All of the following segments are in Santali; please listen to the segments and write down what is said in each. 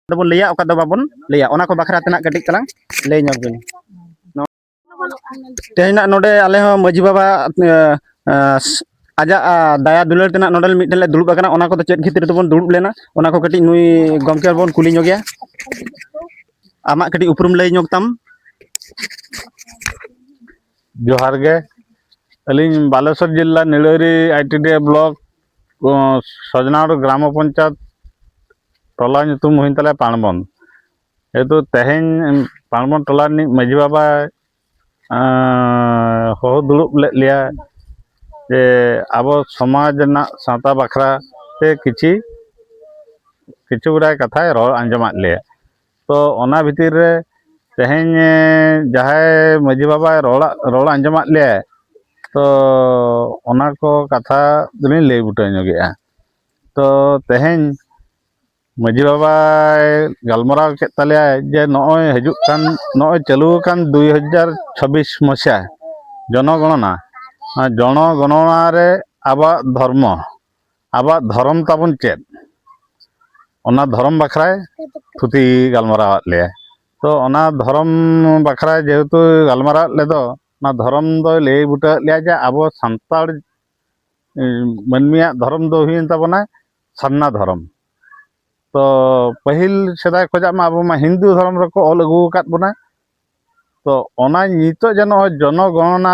ᱫᱚᱵᱚᱱ ᱞᱟᱹᱭᱟ ᱚᱠᱟ ᱫᱚ ᱵᱟᱵᱚᱱ ᱞᱟᱹᱭᱟ ᱚᱱᱟ ᱠᱚ ᱵᱟᱠᱷᱨᱟ ᱛᱮᱱᱟᱜ ᱠᱟᱹᱴᱤᱡ ᱛᱟᱞᱟᱝ ᱞᱟᱹᱭ ᱧᱚᱜ ᱵᱤᱱ ᱛᱮᱦᱮᱧᱟᱜ ᱱᱚᱰᱮ ᱟᱞᱮ ᱦᱚᱸ ᱢᱟᱹᱡᱷᱤ ᱵᱟᱵᱟ ᱟᱡᱟᱜ ᱫᱟᱭᱟ ᱫᱩᱞᱟᱹᱲ ᱛᱮᱱᱟᱜ ᱱᱚᱰᱮ ᱢᱤᱫᱴᱮᱱ ᱞᱮ ᱫᱩᱲᱩᱵ ᱟᱠᱟᱱᱟ ᱚᱱᱟ ᱠᱚᱫᱚ ᱪᱮᱫ ᱠᱷᱟᱹᱛᱤᱨ ᱛᱮᱵᱚᱱ ᱫᱩᱲᱩᱵ ᱞᱮᱱᱟ ᱚᱱᱟ ᱠᱚ ᱠᱟᱹᱴᱤᱡ ᱱᱩᱭ ᱜᱚᱢᱠᱮ ᱵᱚᱱ ᱠᱩᱞᱤ ᱧᱚᱜ ᱜᱮᱭᱟ ᱟᱢᱟᱜ ᱠᱟᱹᱴᱤᱡ ᱩᱯᱨᱩᱢ ᱞᱟᱹᱭ ᱧᱚᱜ ᱛᱟᱢ ᱡᱚᱦᱟᱨ ᱜᱮ ᱟᱹᱞᱤᱧ ᱵᱟᱞᱮᱥᱚᱨ ᱡᱤᱞᱟ ᱱᱤᱲᱟᱹᱨᱤ ᱟᱭᱴᱤᱰᱤ ᱵᱞᱚᱠ ᱥᱚᱡᱽᱱᱟᱲ ᱜᱨᱟᱢ ᱯᱚᱧᱪᱟᱭᱮᱛ ᱴᱚᱞᱟ ᱧᱩᱛᱩᱢ ᱦᱩᱭᱮᱱ ᱛᱟᱞᱮᱭᱟ ᱯᱟᱬᱵᱚᱱ ᱡᱮᱦᱮᱛᱩ ᱛᱮᱦᱮᱧ ᱯᱟᱬᱵᱚᱱ ᱴᱚᱞᱟ ᱨᱤᱱᱤᱡ ᱢᱟᱺᱡᱷᱤ ᱵᱟᱵᱟ ᱦᱚᱦᱚ ᱫᱩᱲᱩᱵ ᱞᱮᱫ ᱞᱮᱭᱟ ᱡᱮ ᱟᱵᱚ ᱥᱚᱢᱟᱡᱽ ᱨᱮᱱᱟᱜ ᱥᱟᱶᱛᱟ ᱵᱟᱠᱷᱨᱟ ᱛᱮ ᱠᱤᱪᱷᱤ ᱠᱤᱪᱷᱩ ᱜᱩᱲᱟᱭ ᱠᱟᱛᱷᱟᱭ ᱨᱚᱲ ᱟᱸᱡᱚᱢᱟᱫ ᱞᱮᱭᱟ ᱛᱚ ᱚᱱᱟ ᱵᱷᱤᱛᱤᱨ ᱨᱮ ᱛᱮᱦᱮᱧ ᱡᱟᱦᱟᱸᱭ ᱢᱟᱺᱡᱷᱤ ᱵᱟᱵᱟᱭ ᱨᱚᱲ ᱨᱚᱲ ᱟᱸᱡᱚᱢᱟᱫ ᱞᱮᱭᱟᱭ ᱛᱚ ᱚᱱᱟ ᱠᱚ ᱠᱟᱛᱷᱟ ᱫᱚᱞᱤᱧ ᱞᱟᱹᱭ ᱵᱩᱴᱟᱹ ᱧᱚᱜᱮᱜᱼᱟ ᱛᱚ ᱛᱮᱦᱮᱧ ᱢᱟᱺᱡᱷᱤ ᱵᱟᱵᱟᱭ ᱜᱟᱞᱢᱟᱨᱟᱣ ᱠᱮᱫ ᱛᱟᱞᱮᱭᱟᱭ ᱡᱮ ᱱᱚᱜᱼᱚᱭ ᱦᱤᱡᱩᱜ ᱠᱟᱱ ᱱᱚᱜᱼᱚᱭ ᱪᱟᱹᱞᱩ ᱟᱠᱟᱱ ᱫᱩᱭ ᱦᱟᱡᱟᱨ ᱪᱷᱟᱵᱵᱤᱥ ᱢᱚᱥᱤᱭᱟ ᱡᱚᱱᱚᱜᱚᱱᱚᱱᱟ ᱚᱱᱟ ᱡᱚᱱᱚᱜᱚᱱᱚᱱᱟ ᱨᱮ ᱟᱵᱚᱣᱟᱜ ᱫᱷᱚᱨᱢᱚ ᱟᱵᱚᱣᱟᱜ ᱫᱷᱚᱨᱚᱢ ᱛᱟᱵᱚᱱ ᱪᱮᱫ ᱚᱱᱟ ᱫᱷᱚᱨᱚᱢ ᱵᱟᱠᱷᱨᱟᱭ ᱛᱷᱩᱛᱤ ᱜᱟᱞᱢᱟᱨᱟᱣᱟᱫ ᱞᱮᱭᱟ ᱛᱚ ᱚᱱᱟ ᱫᱷᱚᱨᱚᱢ ᱵᱟᱠᱷᱨᱟ ᱡᱮᱦᱮᱛᱩ ᱜᱟᱞᱢᱟᱨᱟᱣᱟᱫ ᱞᱮᱫᱚ ᱚᱱᱟ ᱫᱷᱚᱨᱚᱢ ᱫᱚᱭ ᱞᱟᱹᱭ ᱵᱩᱴᱟᱹᱣᱟᱫ ᱞᱮᱭᱟ ᱡᱮ ᱟᱵᱚ ᱥᱟᱱᱛᱟᱲ ᱢᱟᱹᱱᱢᱤᱭᱟᱜ ᱫᱷᱚᱨᱚᱢ ᱫᱚ ᱦᱩᱭᱮᱱ ᱛᱟᱵᱚᱱᱟ ᱥᱟᱨᱱᱟ ᱫᱷᱚᱨᱚᱢ ᱛᱚ ᱯᱟᱹᱦᱤᱞ ᱥᱮᱫᱟᱭ ᱠᱷᱚᱡᱟᱜ ᱢᱟ ᱟᱵᱚ ᱢᱟ ᱦᱤᱱᱫᱩ ᱫᱷᱚᱨᱚᱢ ᱨᱮᱠᱚ ᱚᱞ ᱟᱹᱜᱩ ᱟᱠᱟᱫ ᱵᱚᱱᱟ ᱛᱚ ᱚᱱᱟ ᱱᱤᱛᱚᱜ ᱡᱮ ᱱᱚᱜᱼᱚᱭ ᱡᱚᱱᱚᱜᱚᱱᱟ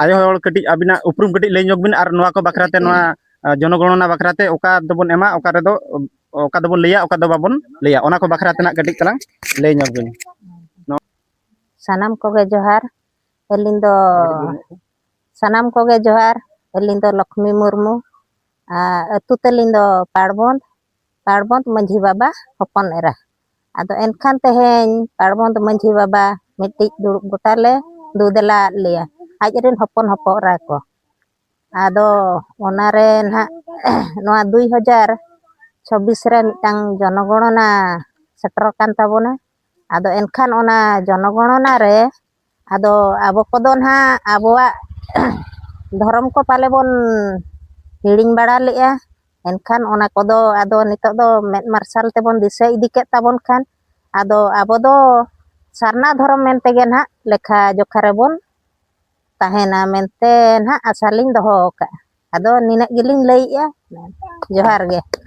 ᱟᱭᱳ ᱦᱚᱲ ᱠᱟᱹᱴᱤᱡ ᱟᱹᱵᱤᱱᱟᱜ ᱩᱯᱨᱩᱢ ᱠᱟᱹᱴᱤᱡ ᱞᱟᱹᱭ ᱧᱚᱜ ᱵᱤᱱ ᱟᱨ ᱱᱚᱣᱟ ᱠᱚ ᱵᱟᱠᱷᱨᱟ ᱛᱮ ᱱᱚᱣᱟ ᱡᱚᱱᱚᱜᱚᱬᱱᱟ ᱵᱟᱠᱷᱨᱟ ᱛᱮ ᱚᱠᱟ ᱫᱚᱵᱚᱱ ᱮᱢᱟ ᱚᱠᱟ ᱨᱮᱫᱚ ᱚᱠᱟ ᱫᱚᱵᱚᱱ ᱞᱟᱹᱭᱟ ᱚᱠᱟ ᱫᱚ ᱵᱟᱵᱚᱱ ᱞᱟᱹᱭᱟ ᱚᱱᱟ ᱠᱚ ᱵᱟᱠᱷᱨᱟ ᱛᱮᱱᱟᱜ ᱠᱟᱹᱴᱤᱡ ᱛᱟᱞᱟᱝ ᱞᱟᱹᱭ ᱧᱚᱜ ᱵᱤᱱ ᱥᱟᱱᱟᱢ ᱠᱚᱜᱮ ᱡᱚᱦᱟᱨ ᱟᱹᱞᱤᱧ ᱫᱚ ᱥᱟᱱᱟᱢ ᱠᱚᱜᱮ ᱡᱚᱦᱟᱨ ᱟᱹᱞᱤᱧ ᱫᱚ ᱞᱚᱠᱷᱢᱤ ᱢᱩᱨᱢᱩ ᱟᱹᱛᱩ ᱛᱟᱹᱞᱤᱧ ᱫᱚ ᱯᱟᱲᱵᱚᱱᱫ ᱯᱟᱲᱵᱚᱸᱫᱽ ᱢᱟᱹᱡᱷᱤ ᱵᱟᱵᱟ ᱦᱚᱯᱚᱱ ᱮᱨᱟ ᱟᱫᱚ ᱮᱱᱠᱷᱟᱱ ᱛᱮᱦᱮᱧ ᱯᱟᱲᱵᱚᱸᱫᱽ ᱢᱟᱹᱡᱷᱤ ᱵᱟᱵᱟ ᱢᱤᱫᱴᱤᱡ ᱫᱩᱲᱩᱵ ᱜᱚᱴᱟ ᱞᱮ ᱫᱩᱫᱮᱞᱟ ᱟᱫ ᱞᱮᱭᱟ ᱟᱡ ᱨᱮᱱ ᱦᱚᱯᱚᱱ ᱦᱚᱯᱚᱱ ᱮᱨᱟ ᱠᱚ ᱟᱫᱚ ᱚᱱᱟᱨᱮ ᱱᱟᱦᱟᱜ ᱱᱚᱣᱟ ᱫᱩᱭ ᱦᱟᱡᱟᱨ ᱪᱷᱚᱵᱵᱤᱥ ᱨᱮ ᱢᱤᱫᱴᱟᱝ ᱡᱚᱱᱚᱜᱚᱬᱚᱱᱟ ᱥᱮᱴᱮᱨᱚᱜ ᱠᱟᱱ ᱛᱟᱵᱚᱱᱟ ᱟᱫᱚ ᱮᱱᱠᱷᱟᱱ ᱚᱱᱟ ᱡᱚᱱᱚᱜᱚᱬᱚᱱᱟ ᱨᱮ ᱟᱫᱚ ᱟᱵᱚ ᱠᱚᱫᱚ ᱱᱟᱦᱟᱜ ᱟᱵᱚᱣᱟᱜ ᱫᱷᱚᱨᱚᱢ ᱠᱚ ᱯᱟᱞᱮ ᱵᱚᱱ ᱦᱤᱲᱤᱧ ᱵᱟᱲᱟ ᱞᱮᱫᱼᱟ ᱮᱱᱠᱷᱟᱱ ᱚᱱᱟ ᱠᱚᱫᱚ ᱟᱫᱚ ᱱᱤᱛᱚᱜ ᱫᱚ ᱢᱮᱫ ᱢᱟᱨᱥᱟᱞ ᱛᱮᱵᱚᱱ ᱫᱤᱥᱟᱹ ᱤᱫᱤ ᱠᱮᱫ ᱛᱟᱵᱚᱱ ᱠᱷᱟᱱ ᱟᱫᱚ ᱟᱵᱚ ᱫᱚ ᱥᱟᱨᱱᱟ ᱫᱷᱚᱨᱚᱢ ᱢᱮᱱ ᱛᱮᱜᱮ ᱱᱟᱦᱟᱜ ᱞᱮᱠᱷᱟ ᱡᱚᱠᱷᱟ ᱨᱮᱵᱚᱱ ᱛᱟᱦᱮᱱᱟ ᱢᱮᱱᱛᱮ ᱱᱟᱦᱟᱜ ᱟᱥᱟ ᱞᱤᱧ ᱫᱚᱦᱚ ᱟᱠᱟᱫᱼᱟ ᱟᱫᱚ ᱱᱤᱱᱟᱹᱜ ᱜᱮᱞᱤᱧ ᱞᱟᱹᱭᱮᱫᱼᱟ ᱡᱚᱦᱟᱨ ᱜᱮ